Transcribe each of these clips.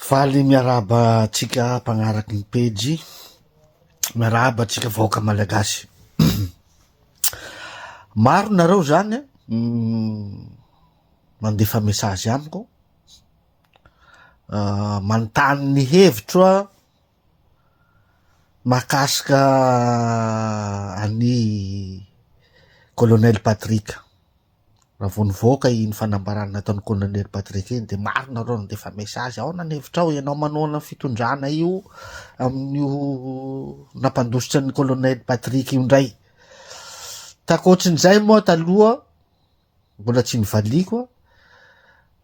Valy miarahaba antsika mpagnaraky ny pejy, miarahaba antsika vahoaka malagasy. Maro nareo zany mandefa message amiko, ah, manontany ny hevitro a mahakasika an'i Colonel Patrick. Raha vao nivoaka iny fanambarana nataon'ny Kolonely Patrick iny dia maro nareo nandefa message, aona ny hevitrao, ianao manohana ny fitondrana io amin'io nampandositra ny Kolonely Patrick io indray. Takoatrin'izay moa taloha mbola tsy nivaliako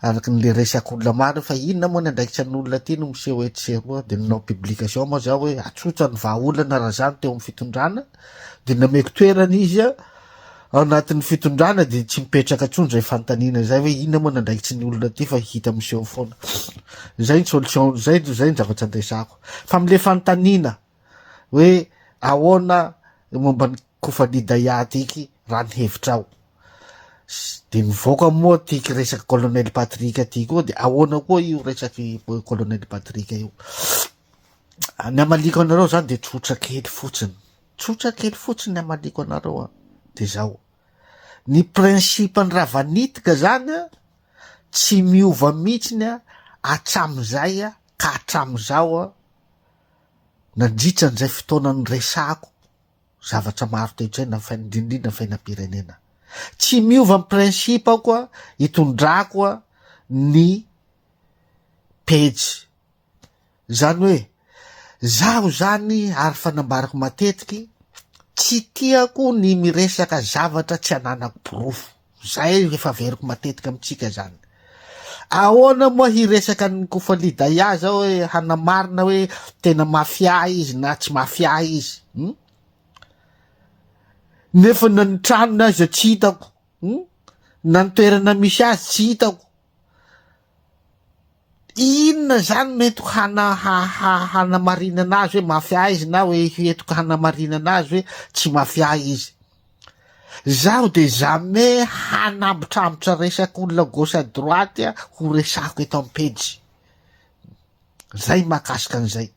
Araka ny le resaka olona maro hoe fa inona moa ny andraikitra ny olona aty no miseho etsy sy eroa dia nanao publication moa za hoe atsotsa ny vahaolana raha za no teo amin'ny fitondrana dia nameko toerana izy a ao anatin'ny fitondrana dia tsy mipetraka intsony izay fanontaniana izay hoe inona moa ny andraikitry ny olona aty fa hita miseho foana izay ny solution izay izay ny zavatra andresako fa amin'ilay fanontaniana hoe ahoana momba ny kofani daihat iky raha ny hevitrao de mivoaka moa ty resaka colonel patrick ty koa de ahoana koa io resaky colonel patrick io ny amaliko anareo zany de tsotra kely fotsiny tsotra kely fotsiny amaliko anareo a de zao ny principe ny ravanitika zany a tsy miova mihitsiny a atramizay a ka atramizao a Nandritra an'izay fotoana niresahako zavatra maro toe-tsaina fa indrindrindra fiainam-pirenena. Tsy miova ny principe-ko itondrako ny pejy. Izany hoe izaho izany ary efa nambarako matetiky, tsy tiako ny miresaka zavatra tsy ananako porofo. Izay efa averiko matetika amintsika izany. Ahoana moa hiresaka an'i Kofali Daya zao hoe hanamarina hoe tena mafia izy na tsy mafia izy. Hmm? Nefa na ny tranony aza tsy hitako. Hmm? Na ny toerana misy azy tsy hitako. Inona izany no entiko hana- ha- ha- hanamarinana azy hoe mafia izy na hoe entiko hanamarinana azy hoe tsy mafia izy? Izaho dia jamais hanambotrambotra resak'olona gauche à droite ho resahiko eto am-pejy. Izay ny mahakasika an'izay.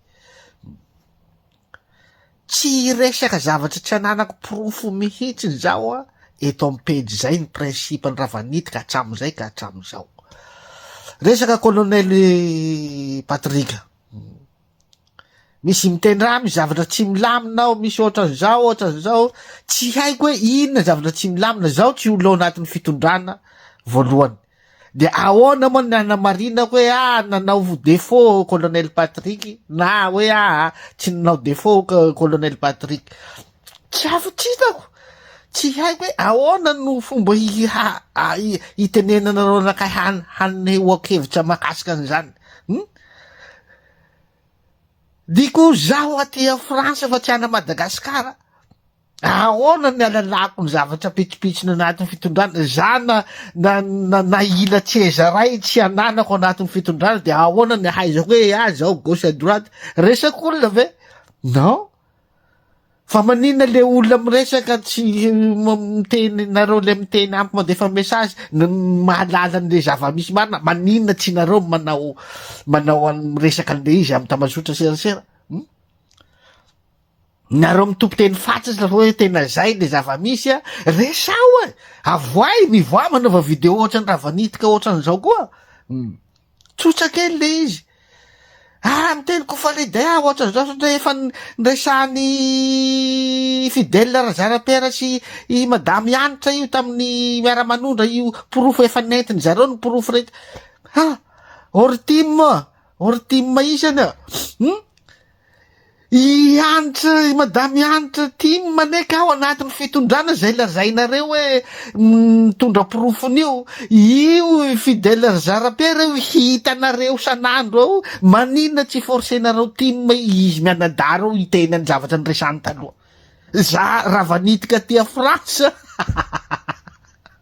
Tsy hiresaka zavatra tsy ananako porofo mihitsiny zaho a! eto amin'ny pejy izay ny principe-ny raha vao niditra hatramin'izay ka hatramin'izao. Resaka colonel Patrick. Misy mitendrà, misy zavatra tsy milamina ao, misy ohatran'izao, ohatran'izao. Tsy haiko hoe inona zavatra tsy milamina, zaho tsy ho lo anatin'ny fitondrana voalohany. De ahoana moa ny hanamarina hoe ah nanao défaut colonel Patrick na hoe ah tsy nanao défaut colonel Patrick. Tsy afo tsy hitako. Tsy haiko hoe ahoana no fomba hitenenana anao nakay hanehoako hevitra mahakasika an'izany. Hmm? Diko zaho aty a France fa tsy ana Madagasikara. Ahoana ny alalako ny zavatra pitsopitsony anatin'ny fitondrana? Za na, na, na, na ila tsy ezaray tsy ananako anatin'ny fitondrana dia ahoana ny ahaizako hoe ah zao gauche à droite? Resak'olona ve? Non. Fa maninona le olona miresaka tsy miteny nareo le miteny ampy mandefa message ny mahalala an'le zava-misy marina maninona tsy nareo manao manao an'ny resaka an'le izy amin'ny tamazotra serasera? Hmm? Nareo mitompo teny fatsisy ro hoe tena zay le zavamisy a! Resaho e! Avoahy, mivoaha manaova video ohatrany Ravanitika ohatran'izao koa! Tsotsa kely le izy! Ah, miteny ko Faridah ah, ohatran'izao satria efa niresahan'i Fidèle Razarapiera sy i Madame Hanitra io tamin'ny miara-manondra io porofo efa nentiny zareo ny porofo rehetra. Ha! Ortim, ortim isany ah! I Hanitra, i Madame Hanitra tim maneky ao anatin'ny fitondrana izay lazainareo hoe mitondra porofony io, io i Fidèle ry Zara-Pierre io hitanareo san'andro ao, maninona tsy forcenareo tim izy mianadahy ireo hiteny an'ny zavatra niresany taloha za raha vanitika aty a France.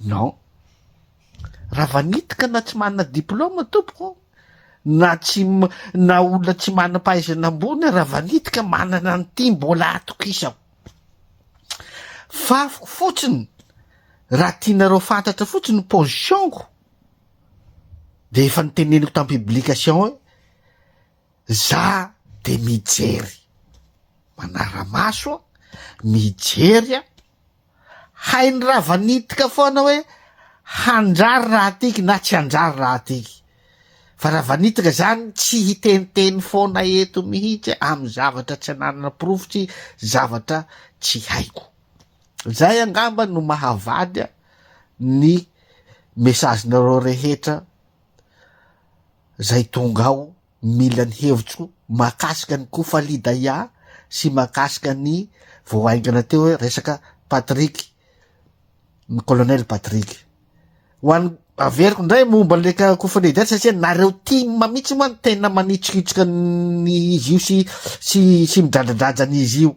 Non. Raha vanitika na tsy manana diploma tompoko, na tsy na olona tsy manam-pahaizana ambony raha vanitika manana an'ity mbola atokisako. Fafiko fotsiny raha tianareo fantatra fotsiny position-ko dia efa niteneniko tam publication hoe za de mijery manara-maso mijery Hainy rava nitika foana hoe handrary raha tiky na tsy handrary raha tiky. Fa rava nitika izany tsy hiteniteny foana eto mihitsy amin'ny zavatra tsy ananana porofo sy zavatra tsy haiko. Izay angamba no mahavadya ny message-nareo rehetra izay tonga ao. Mila ny hevitro mahakasika ny Kofalidaia sy mahakasika ny vao haingana teo hoe resaka Patrick, ny Colonel Patrick. Ho an'ny averiko indray momba an'ilay ka- Kofalidaia satria nareo tim mihitsy moa no tena manitrikitrika ny izy io sy sy sy midradradraja an'izy io.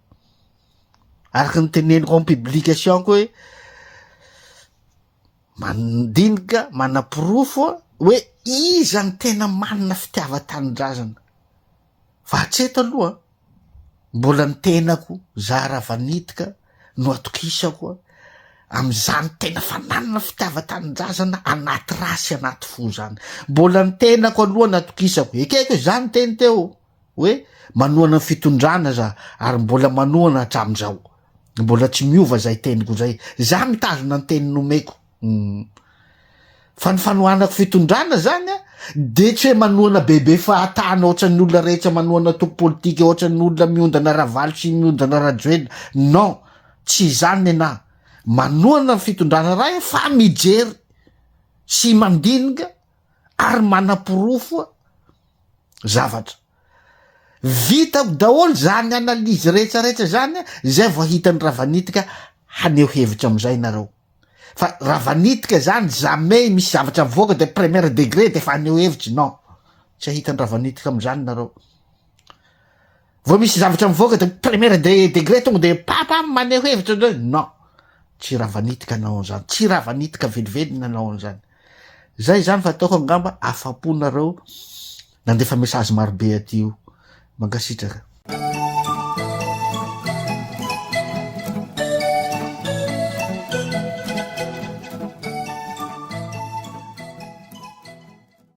araka ny teneniko en publication koa hoe mandinika manaporofo hoe iza ny tena manina fitiavan-tanindrazana fa hatseto aloha mbola ny tenako zara vanitika no atokisako a am'izany tena fananina fitiavan-tanindrazana anaty ra sy anaty fo zany mbola ny tenako aloha ny atokisako ekeko izany teny teo hoe manohana ny fitondrana za ary mbola manohana hatramin'izao mbola tsy miova zay teniko zay za mitazona ny teny nomeko umm fa ny fanohanako fitondrana zany a de tsy hoe manohana bebe fahatana ohatran'ny olona rehetra manohana antoko politika ohatran'ny olona miondana ravalo sy miondana rajoelina non tsy izany nenahy manohana ny fitondrana ray fa mijery sy mandinika ary manaporofo zavatra. Vitako daholo izany analyse rehetrarehetra izany izay vao hitan'ny Ravanitika haneho hevitra amin'izay nareo. Fa Ravanitika izany jamais misy zavatra mivoaka de première degré de fa haneho hevitra, non. Tsy hahitan'ny Ravanitika amin'izany nareo. Vao misy zavatra mivoaka de première de degré tonga de papa maneho hevitra ndray non tsy raha vanitika anao an'zany tsy raha vanitika velively nanao an'zany zay zany fa ataoko angamba afapo nareo nandefa message marobe aty io mankasitraka